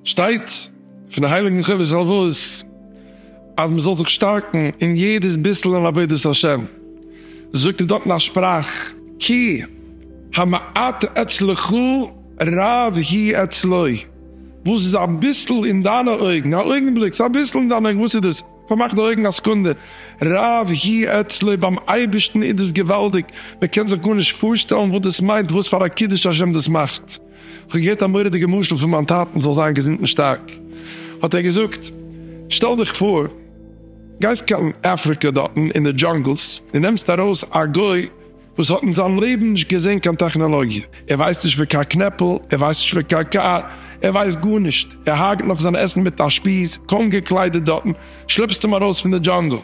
שטייט פון די הייליגן חובת הלבבות אז מען זאל זיך שטארקן אין יעדעס ביסל אין עבודת השם, זאגט ער דארט אין א שפראך כי המעט אצלך רב הוא אצלי, וואס איז א ביסל אין דיינע אויגן, א אויגנבליק, ס'איז א ביסל אין דיינע אויגן, וואס איז דאס? פארמאך די אויגן א סקונדע, רב הי א תלוי ביים אייבערשטן איז דאס געוואלדיג, מען קען זיך גארנישט פארשטעלן וואס דאס מיינט וואס פאר א קידוש השם דאס מאכט, איך האב געהערט א מורא'דיגע משל פון מיין טאטן זאל זיין געזונט און שטארק, האט ער געזאגט, שטעל דיך פאר גייסט קיין אפריקע דארטן אין די דזשאנגלס און נעמסט ארויס א גוי, וואס האט אין זיין לעבן נישט געזען קיין טעכנאלאגיע, ער ווייסט נישט פון קיין קנעפל, ער ווייסט נישט פון קיין קאר, ער ווייסט גארנישט, ער הארגעט נאך זיין עסן מיט א שפיז, קוים געקליידעט דארטן, שלעפסט אים ארויס פון די דזשאנגל,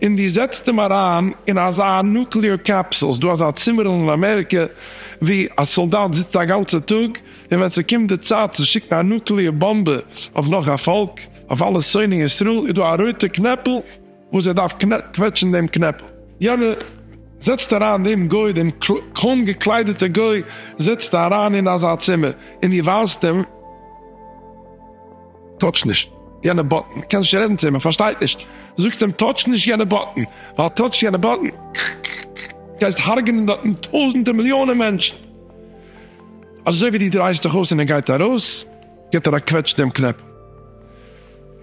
און דו זעצט אים אריין אין אזא נוקלעאר קעפסול, ס'דא אזא צימערל אין אמעריקע ווי א סאלדאט זיצט א גאנצע טאג, און ווען ס'קומט די צייט צו שיקן א נוקלעאר באמבע אויף נאך א פאלק, אויף אלע שונאי ישראל, איז דא א רויטע קנעפל, וואס ער דארף קוועטשן דעם קנעפל, יענער זעצט אריין דעם גוי, דעם קוים געקליידעטע גוי זעצט ער אריין אין אזא צימער, און דו ווייזט אים, טאטש נישט יענע באטן, קענסט נישט רעדן צו אים, ער פארשטייט נישט, זאגסט אים טאטש נישט יענע באטן, ווייל טאטשסט יענע באטן גייסט הרג'נען דארטן טויזענטער מיליאנען מענטשן, אזוי ווי דו דרייסט דיך אויס און ער גייט ארויס, גיבט ער א קוועטש דעם קנעפל.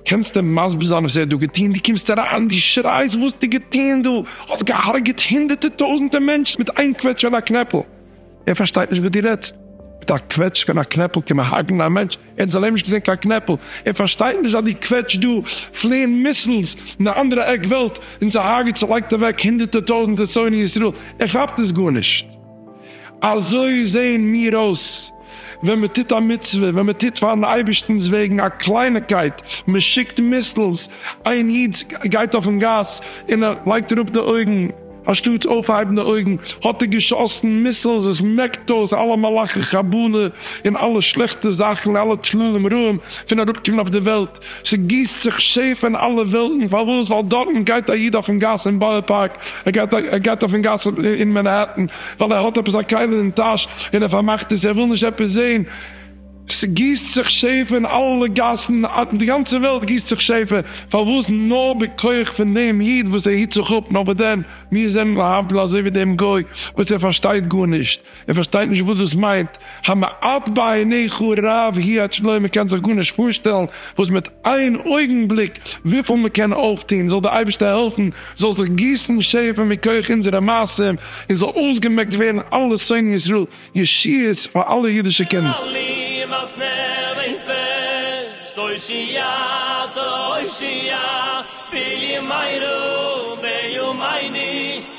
קענסטו מסביר זיין וואס ער האט דא געטון? דו קומסט אריין און דו שרייסט וואס האסטו געטון דא? האסט געהארגעט הונדערטער טויזענטער מענטשן מיט איין קוועטש און א קנעפל. ער פארשטייט נישט וואס דו רעדסט. מיט א קוועטש און א קנעפל קען מען הרג'נען א מענטש? ער האט אין זיין לעבן נישט געזען קיין קנעפל. ער פארשטייט נישט אז דו קוועטשט דא פלעין מיסילס אין א אנדערע עק וועלט און צוהארגעט צולייגט אוועק הונדערטער טויזענטער שונאי ישראל. ער כאפט עס גארנישט. אזוי זעען מיר אויס ווען מען טוט א מצוה, ווען מען טוט פארן אייבערשטנ'ס וועגן א קלייניקייט, מען שיקט מיסלס, איין איד גייט אויפן גאס און ער לייגט אראפ די אויגן, אנשטאט אויפהייבן די אויגן האט ער געשאסן מיסלס וואס מעקט אויס אלע מלאכי חבלה און אלע שלעכטע זאכן, אלע טללים רעים פון אראפקומען אויף די וועלט. ס'גיסט זיך שפע אין אלע וועלטן, פארוואס? ווייל דארטן גייט א איד אויפן גאס אין בארא פארק, ער גייט ער גייט אויפן גאס אין מענהעטן, ווייל ער האט עפעס א כלי אין טאש און ער פארמאכט עס, ער וויל נישט עפעס זעהן, ס'גיסט זיך שפע אין אלע גאסן, אין די גאנצע וועלט גיסט זיך שפע, פארוואס? נאר בכח פון דעם איד וואס ער היט זיך אפ, נאר וואס דען? מיר זענען להבדיל אזוי ווי דעם גוי וואס ער פארשטייט גארנישט, ער פארשטייט נישט וואס דאס מיינט המעט בעיניך רב היא את שלו, מען קען זיך גארנישט פארשטעלן וואס מיט איין אויגן בליק וויפיל מען קען אויפטון, זאל דער אייבערשטער העלפן זאל זיך גיסן שפע מכח אונזערע מעשים און זאל אויסגעמעקט ווערן אלע שונאי ישראל, ישועות פאר אלע אידישע קינדער. אלעם אז נער און פערשט תושייה תושייה בימינו בימיני.